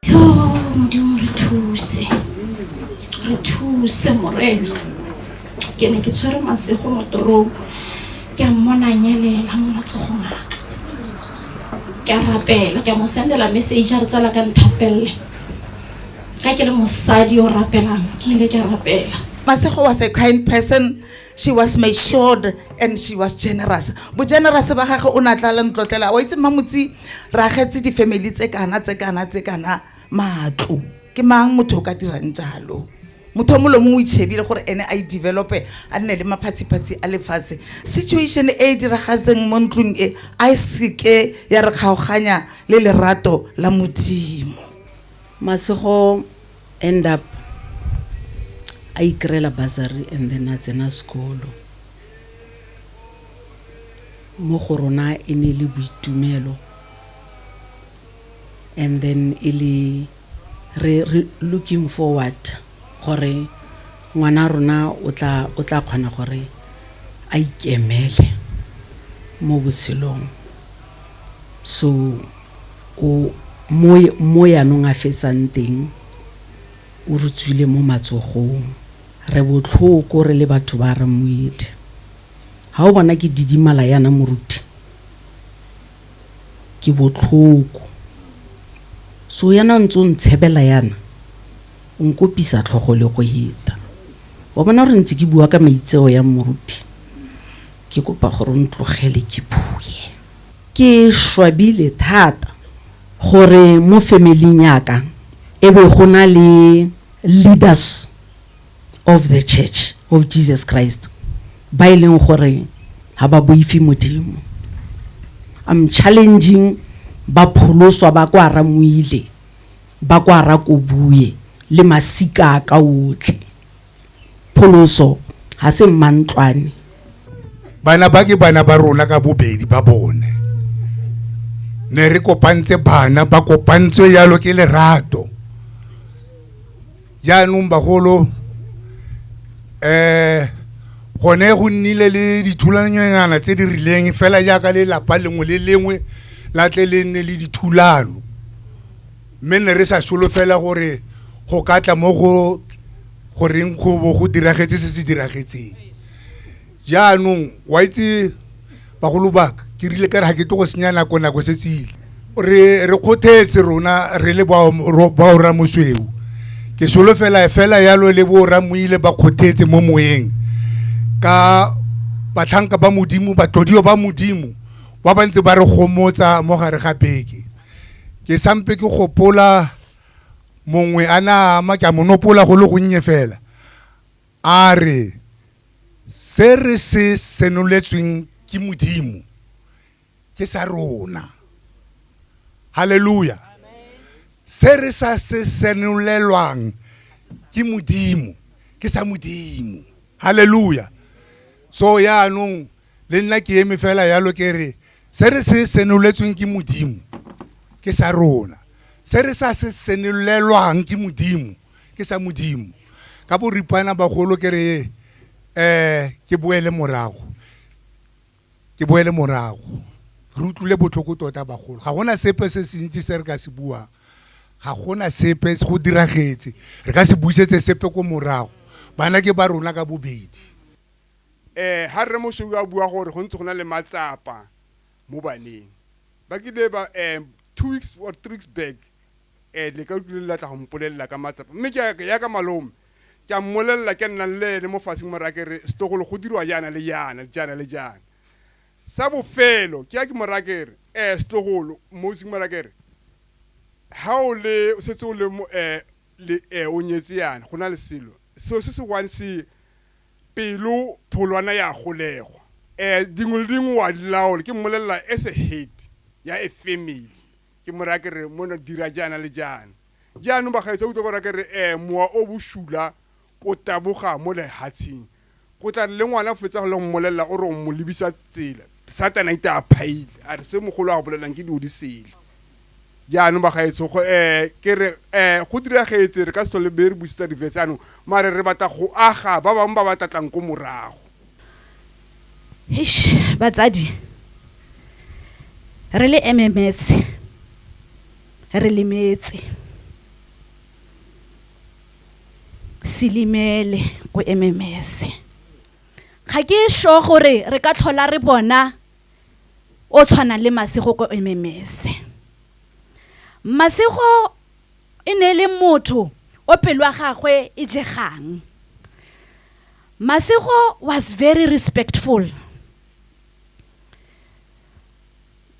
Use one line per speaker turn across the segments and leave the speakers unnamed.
Yo, Modimo re thuse. Re thuse morena. Ke ne ke tshwere masego mo torong. Ke a mmona nyelela mo matsogong a ka. Ke a rapela, ke a mo sendela message a re tsala ka nthapelle. Ka ke le mosadi o rapelang, ke ile ke a rapela. Masego was a kind
person she was matured and she was generous bogenerous ba gage o ne a tla le ntlotlela wa itse mmamotsi re agetse di-family tse kana tse kana tse kana matlo ke mang motho o ka dirang jalo motho o molomo o itšhebile gore ene a i-develope a nne le maphatshiphatshi a lefatshe situation e e diragatseng mo ntlong e a e seke ya re kgaoganya le lerato la modimo masego
end up a ikry-ela bursary and then a tsena sekolo mo go rona e ne e le boitumelo and then e le re, re looking forward gore ngwana rona o tla o tla kgona gore a ikemele mo botshelong so o mo yanong a fetsang teng o re tswile mo matsogong re botlhoko re le batho ba re moedi ga o bona ke didimala yana moruti ke botlhoko so yana ntse o ntshebela yana o nkopisa tlhogo le go heta wa bona gore ntse ke bua ka maitseo ya moruti Ke kopa gore o ntlogele ke bue. Ke swabile thata gore mo family-ing ya ka e be go na le leaders of the Church of Jesus Christ ba e leng gore ga ba boife Modimo. I'm challenging ba pholoswa ba kwa Ramoile, ba kwa Rakobue le masika a ka otlhe. pholoso ga se mmantlwane
bana ba ke bana ba rona ka bobedi ba bone ne re kopantse bana ba kopantswe yalo ke lerato jaanong bagolo um gone go nnile le dithulanyana tse di rileng fela jaaka lelapa lengwe le lengwe la tle le nne le dithulano mme ne re sa solofela gore go ka tla mo go goreng go bo go diragetse se se diragetseng jaanong wa itse bagolo baka ke rile ka re ga ke tlo go senya nako nako se tsile re re kgothetse rona re le baora mosweu ke solofela fela yalo le boora moile ba kgothetse mo moyeng ka batlhanka ba modimo batlodiwa ba modimo ba ba ntse ba re gomotsa mo gare ga beke ke sampe ke gopola mongwe a na ama ke a monopola go le gonnye fela a re se re se senoletsweng ke modimo ke sa rona haleluya se re sa se senolelwang ke modimo ke sa modimo haleluya so yaanong Le nna ke eme fela yalo ke re se re se senoletsweng ke Modimo ke sa rona. Se re sa se senolelwang ke Modimo ke sa Modimo. Ka boripana bagolo ke re um ke boele morago, ke boele morago. Re utlwile botlhoko tota bagolo. Ga gona sepe se se ntsi se re ka se buang, ga gona sepe go diragetse. Re ka se busetse sepe ko morago. Bana ke ba rona ka bobedi. Ee,
ga Rre Mosweu a bua gore go ntse go na le matsapa mo baneng. Ba kile ba um two weeks or three weeks back um le ka utlwile le latla go mpolelela ka matsapa mme ke ya- ya ka malome ke a mmolelela ke nnang le ene mo faseng mo raya ke re setogolo go dirwa jaana le jaana jaana le jaana sa bofelo ke ya ke mo raya ke re um setogolo mosing mo raya ke re ha o le o setse o le mo eh, le eh, o nyetse yana go na le selo seo se se one se Pelo pholwana ya golegwa. Eh, dingwe le dingwe wa di laola. Ke mmolelela as a head ya a family. Ke mo raya ke re, mona dira jaana le jaana. Jaanong bagaetsho utlwa gore ke re, eh, mowa o bosula o taboga mo lehatsheng. Go tla re le ngwana fetsa go le mmolelela o re o mo lebisa tsela, satana ita a phaile, a re se mogolo a go bolelang ke dilo di sele. jaanong bagaetsho go um ke re um go diragetse re ka se tlhole be re busetsa difetse anong mare re batla go aga ba bangwe ba ba tlatlang ko morago Eish,
batsadi re le mms re lemetse
selimele ko mms ga ke sure gore re ka tlhola re bona o tshwana le Masego ko Ememese. Masego e ne e le motho o pelo ya gagwe e jegang. Masego was very respectful.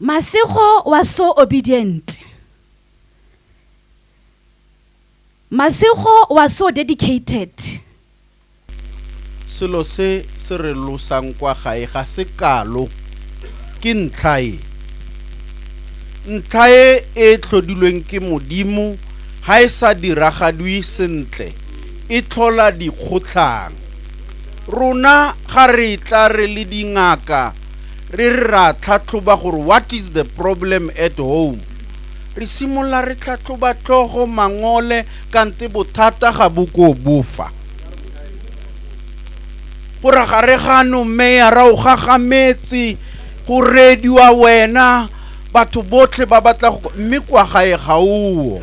Masego was so obedient. Masego was so dedicated.
Selo se se re losang kwa gae ga se kalo. Ke ntlha e. Ntlha e e tlhodilweng ke Modimo ha e sa diragadwi sentle e tlhola dikgotlhang. Rona ga re tla re le dingaka re re ra tlhatlhoba gore what is the problem at home, re simolola re tlhatlhoba tlhogo, mangole, kante bothata ga bo ko bofa gore gare gano meyara o gagametse go rediwa wena batho botlhe ba batla go mme kwa gae ga oo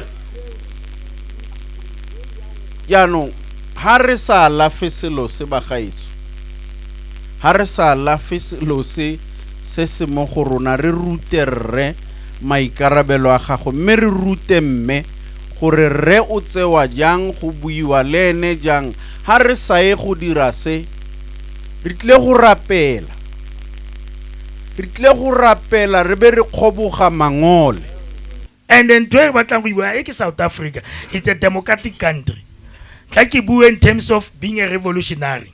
jaanong ha re sa alafe selo se bagaetso ha re sa alafe selo se se se mo go rona re rute rre maikarabelo a gago mme re rute mme gore rre o tsewa jang, go buiwa le ene jang, ga re sa ye go dira se, re tlile go rapela. Re tlile go rapela re be re kgoboga mangole. And
ntho e re batlang go iwa e ke South Africa. It's a democratic country. Tla ke bue in terms of being a revolutionary.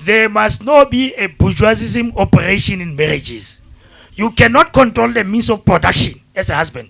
There must not be a bourgeoisism operation in marriages. You cannot control the means of production as a husband.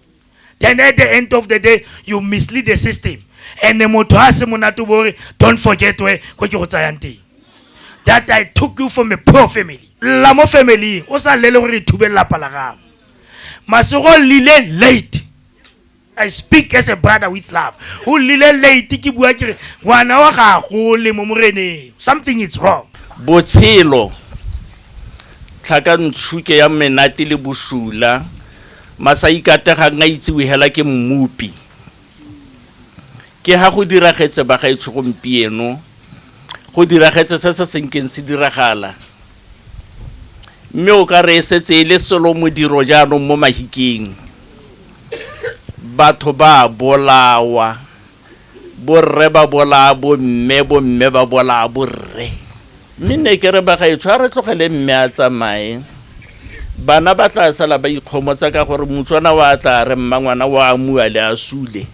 then at the end of the day you mislead the system and motho a se monate bo re don't forget where ko ke go tsayang teng that i took you from a poor family lla mo familyng o sa lele gore thube lelapa la gago masego lile late i speak as a brother with love o lile late ke bua ke re ngwana wa gago le mo moreneng something is wrong botshelo
tlhakantšhuke ya menate le bosula Masaikate ga nga itsiwe hela ke Mmopi. Ke ha go diragetse bagaetsho gompieno, go diragetse se se senkeng se diragala. Mme o ka re e setse e le selo modiro jaanong mo Mahikeng. Batho ba a bolawa. Borre ba bolaya bomme, bomme ba bolaya borre. Mme nne ke re bagaetsho a re tlogele mme a tsamaye. Bana ba tla sala ba ikgomotsa ka gore motswana wa tla re mmangwana wa amua le a sule.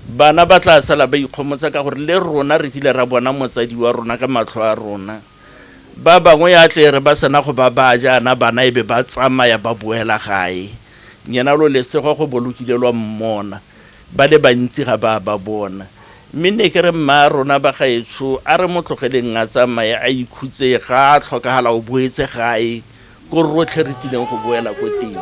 Bana ba tla sala ba ikgomotsa ka gore le rona re kile ra bona motsadi wa rona ka matlho a rona. Ba bangwe ya tle re ba sena go ba baya jaana bana e be ba tsamaya ba boela gae. Nyena lo lesego go bo lo kile lwa mmona. Ba le bantsi ga ba a ba bona. Mme ne ke re, Mmaarona, bagaetsho, a re mo tlogeleng a tsamaye a ikhutse, ga a tlhokagala o boetse gae, ko rotlhe re tsileng go boela ko teng.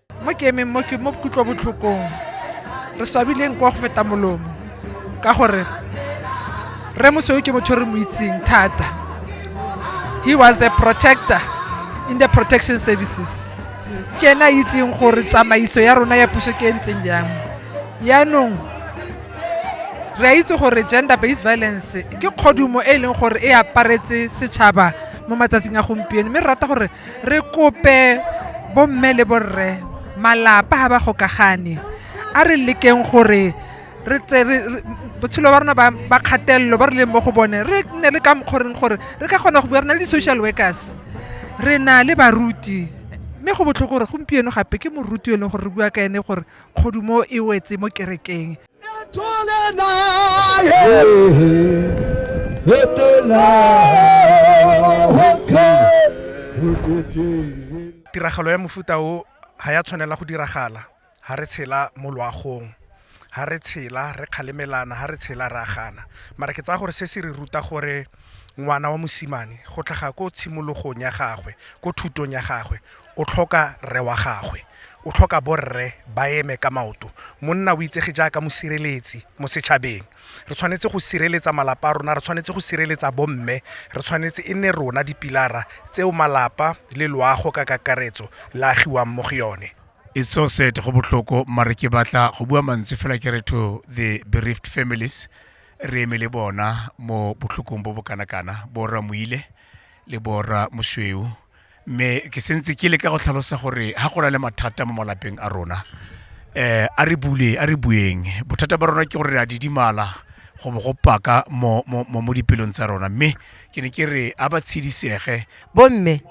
mo ke emeng mo ke mo kutlwabotlhokong re swabileng kwa go feta molomo ka gore re mosweu ke motho re mo itseng thata he was a protector in the protection services ke ena a itseng gore tsamaiso ya rona ya puso ke e ntseng jang yaanong re a itse gore gender based violence ke kgodumo e e leng gore e aparetse setšhaba mo matsatsing a gompieno mme re rata gore re kope bomme le borre malapa ga ba gokagane a re lekeng gore re tse re re- botshelo ba rona ba ba kgatelelo ba re leng mo go bone re nne le ka mokgoreng gore re ka kgona go bua re na le di-social workers re na le baruti mme go botlhoko gore gompieno gape ke moruti yo e leng gore re bua ka ene gore kgodumo e wetse mo kerekeng tiragalo ya mofuta o ga ya tshwanela go diragala ga re tshela mo loagong ga re tshela re kgalemelana ga re tshela re agana mara ke tsaya gore se se re ruta gore ngwana wa mosimane go tlhaga ko tshimologong ya gagwe ko thutong ya gagwe O tlhoka rre wa gagwe. O tlhoka borre ba eme ka maoto. Monna o itsege jaaka mosireletsi mo setšhabeng. Re tshwanetse go sireletsa malapa a rona, re tshwanetse go sireletsa bomme, re tshwanetse e nne rona dipilara tseo malapa le loago ka kakaretso la agiwang mo go yone. It's so sad
go botlhoko mare ke batla go bua mantswe fela ke re to the bereaved families re eme le bona mo botlhokong bo bo kana kana bo rra Moile le bo rra Mosweu mme ke sentse ke le ka go tlhalosa gore ga go na le mathata mo malapeng a rona um a re bule a re bueng bothata ba rona ke gore re a didimala go bo go paka mo dipelong tsa rona mme ke ne ke re a ba tshedisege bomme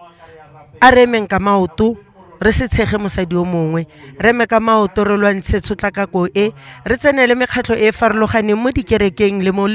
a re emeng ka maoto re se tshege mosadi o mongwe re eme ka maoto re lwantshe tshotlakako e re tsenele mekgatlho e e farologaneng mo dikerekeng le mo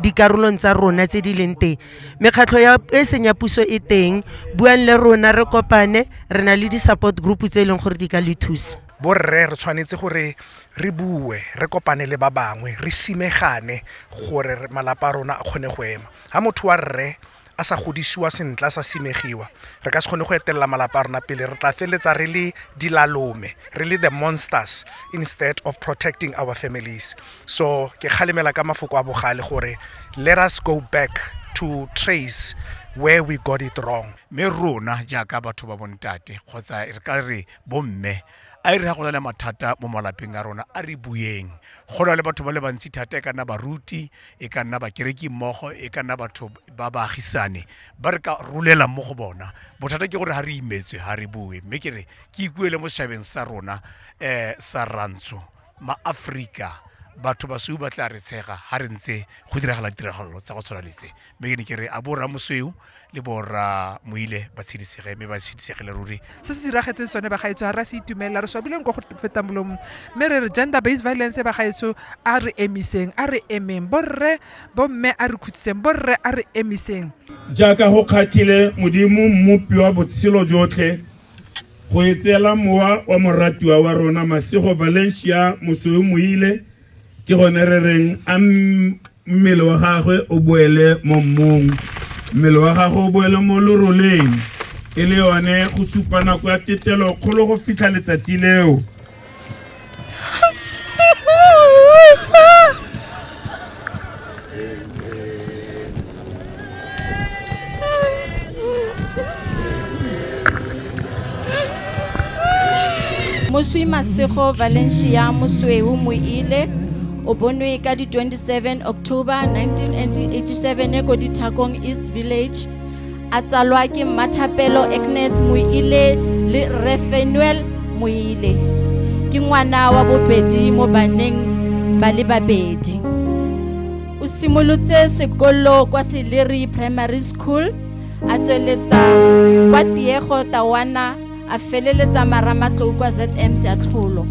dikarolong tsa rona tse di leng teng mekgatlho ya e seng ya puso e teng buang le rona re kopane re na le di-support group tse e leng gore di ka le thusa borre re tshwanetse
gore re bue re kopane le ba bangwe re simegane gore malapa a rona a kgone go ema ga motho wa rre a sa godisiwa sentle a sa simegiwa re ka se kgone go etelela malapa a rona pele re tla feleletsa re le dilalome re le the monsters instead of protecting our families so ke kgalemela ka mafoko a bogale gore let us go back to trace where we got it wrong mme rona
jaaka batho ba bontate kgotsa re ka re bomme a e re ga go na le mathata mo malapeng a rona a re bueng go na le batho ba le bantsi thata e kana baruti e ka nna bakereki mmogo e ka nna batho ba baagisane ba re ka rolelang mo go bona bothata ke gore ga re imetswe ga re bue mme ke re ke ikuele mo setšhabeng sa rona um sa rantsho maaforika batho basweu ba tla re tshega ga re ntse go diragala ditiragalo tsa go tshwana letse mme ke ne ke re a bo ramosweu le borra moile ba tshedisege mme ba tshedisegile ruri se se diragetseng sone
bagaetsho ga re a se itumelela re swabileng kwa go fetang molomo mme re re gender based violence bagaetsho a re emiseng a re emeng borre bomme a re khutsiseng borre a re emiseng jaaka go
kgatlhile modimo mmopi wa botshelo jotlhe go etseela mowa wa moratiwa wa rona masego valencia mosweu moile ke gone re reng a mmele wa gagwe o boele mo mmung mmele wa gagwe o boele mo loroleng e le yone go supa nako ya tetelo kgolo go fitlha letsatsi leo
moswi masego valencia mosweu moile o bonwe ka di-27 october 1987 e ko dithakong east village a tsalwa ke mmathapelo agnes moile le refenuel moile ke ngwana wa bobedi mo baneng ba le babedi o simolotse sekolo kwa seleri primary school a tsweletsa kwa tiego tawana a feleletsa maramatlou kwa zm seatlholo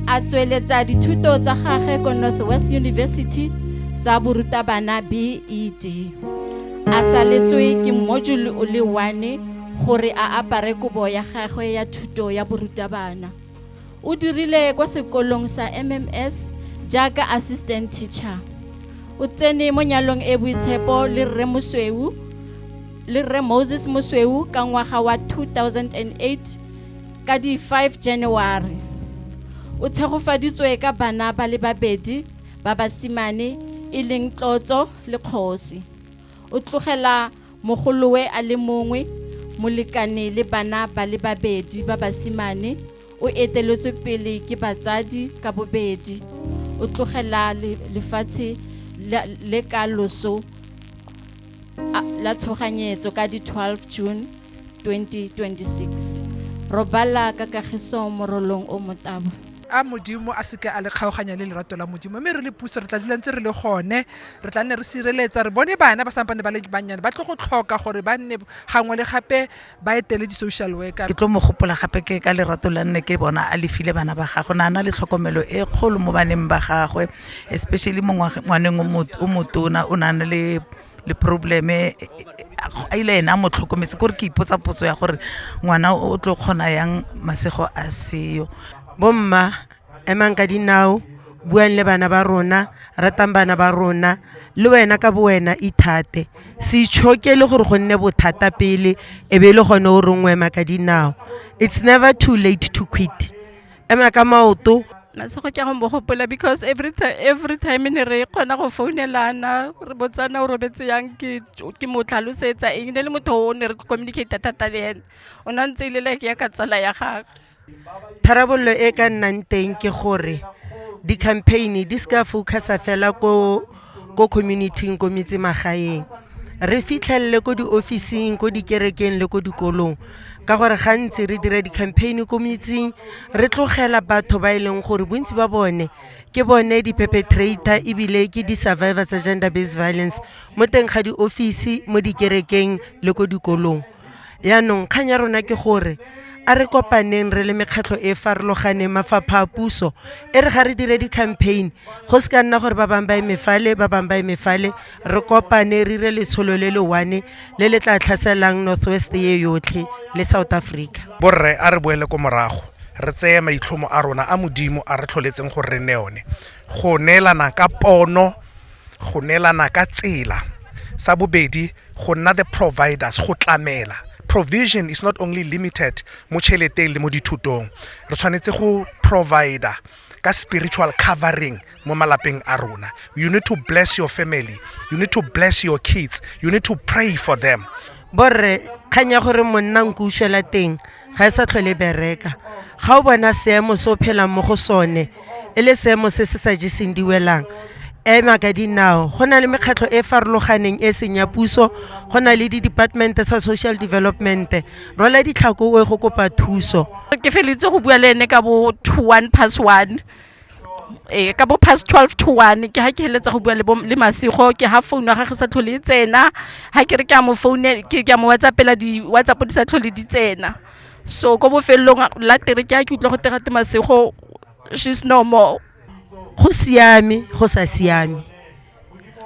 a tsweletsa dithuto tsa gage ko northwest university tsa borutabana bed a saletswe ke module o le one gore a apare kobo ya gagwe ya thuto ya borutabana O dirile kwa sekolong sa MMS jaaka assistant teacher. O tsene mo nyalong e boitshepo le Rre Mosweu le Rre Moses Mosweu ka ngwaga wa 2008 ka di 5 January. O tshegofaditswe ka bana ba le babedi ba basimane e leng Tlotso le Kgosi. O tlogela Mogolowe a le mongwe, molekane le bana ba le babedi ba basimane, o eteletswe pele ke batsadi ka bobedi. O tlogela lefatshe le ka loso la tshoganyetso ka di 12 June 2026. Robala ka kagiso morolong o motabo. A
Modimo a seke a le kgaoganya le lerato la Modimo, mme re le puso re tla dula ntse re le gone. re tla nne re sireletsa re bone bana ba sampane ba le bannyane ba tlo go tlhoka gore ba nne gangwe le gape ba etele di-social worker ke tlo mo gopola
gape ke ka lerato la nne ke bona a lefile bana ba gagwe na na le tlhokomelo e kgolo mo baneng ba gagwe especially mo ngwaneng o motona o nang le le probleme a ile ena a mo tlhokometse kore ke ipotsa potso ya gore ngwana o tlo kgona yang masego a seyo bomma
Emang ka dinao, buang le bana ba rona, ratang bana ba rona, le wena ka bo wena ithate. Se itshokele gore go nne bothata pele e be e le gone o reng o ema ka dinao. It's never too late to quit. Ema ka maoto, na se go ke go mo
gopola because every time every time ne re kgona go founelana re botsana o robetse yang ke ke mo tlhalosetsa eng ne le motho o ne re communicate thata le ene o ne a ntse e le like ya ka tsala ya gagwe. Tharabololo
e ka nnang teng ke gore di-campaign di se ka focus-a fela ko ko community-ing ko metsemagaeng re fitlhelele ko di-office-ing ko dikerekeng le ko dikolong ka gore gantsi re dira di-campaign ko metseng re tlogela batho ba e leng gore bontsi ba bone ke bone di-perpetrator ebile ke di-survivor tsa gender based violence mo teng ga di-office mo dikerekeng le ko dikolong Yaanong kgang ya rona ke gore a re kopaneng re le mekgatlho e farologaneng mafapha a puso e re ga re dire di-campaign go se ka nna gore ba bangwe ba e mefale ba bangwe ba e mefale re kopane re dire letsholo le le one le le tla tlhaselang north west ye yotlhe le south africa borre a re boele
ko morago re tseye maitlhomo a rona a modimo a re tlholetseng gore re ne one go neelana ka pono go neelana ka tsela sa bobedi go nna the providers go tlamela provision is not only limited mo tšheleteng le mo dithutong re tshwanetse go provider ka spiritual covering mo malapeng a rona you need to bless your family you need to bless your kids you need to pray for them borre
kgang ya gore monna nko ušwela teng ga e sa tlhole e bereka ga o bona seemo se o phelang mo go sone e le seemo se se sa jeseng diwelang ema ka dinao go na le mekgatlho e e farologaneng e seng ya puso go na le di-departmente tsa social development rola ditlhako o ye go kopa thuso ke feleletse go
bua le ene ka bo two one pass one ee ka bo past twelve to one ke ha ke heletsa go bua le bo le masego ke ha phone ya gagwe sa tlhole e tsena ha ke re ke a mo phone ke ke a mo whatsappela di whatsapp di sa tlhole di tsena so ko bofelelong la tere ke a ke utlwa go tega te masego she's no more go
siame go sa siame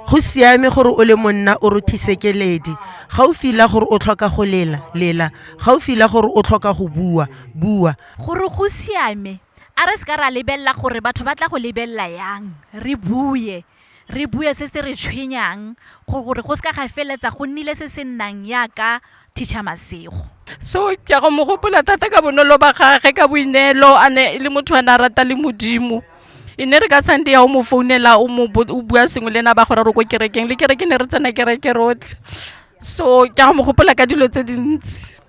go siame gore o le monna o rothise keledi ga o fila gore o tlhoka go lela lela ga o fila gore o tlhoka go bua bua gore
go siame a re se ka ra lebelela gore batho ba tla go lebelela yang re bue re bue se se re tshwenyang gore go se ka ga feletsa go nnile se se nnang yaka teacher masego so ke go
mo gopola thata ka bonolo ba gage ka boineelo a ne e le motho a ne a rata le modimo e ne re ka sunday ya o mo founela o bua sengwe le ena ba gore re ko kerekeng le kereke ne re tsena kereke rotlhe so ke go mo gopola ka dilo tse dintsi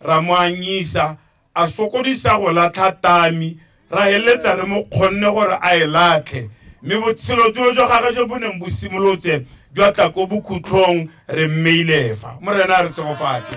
Ra mo anyisa, a sokodisa go latlha tami, ra heletsa re mo kgonne gore a e latlhe. Mme botshelo joo jwa gagwe jo bo neng bo simolotse jwa tla ko bokhutlhong, re mmeile fa. Morena a re tshegofatse.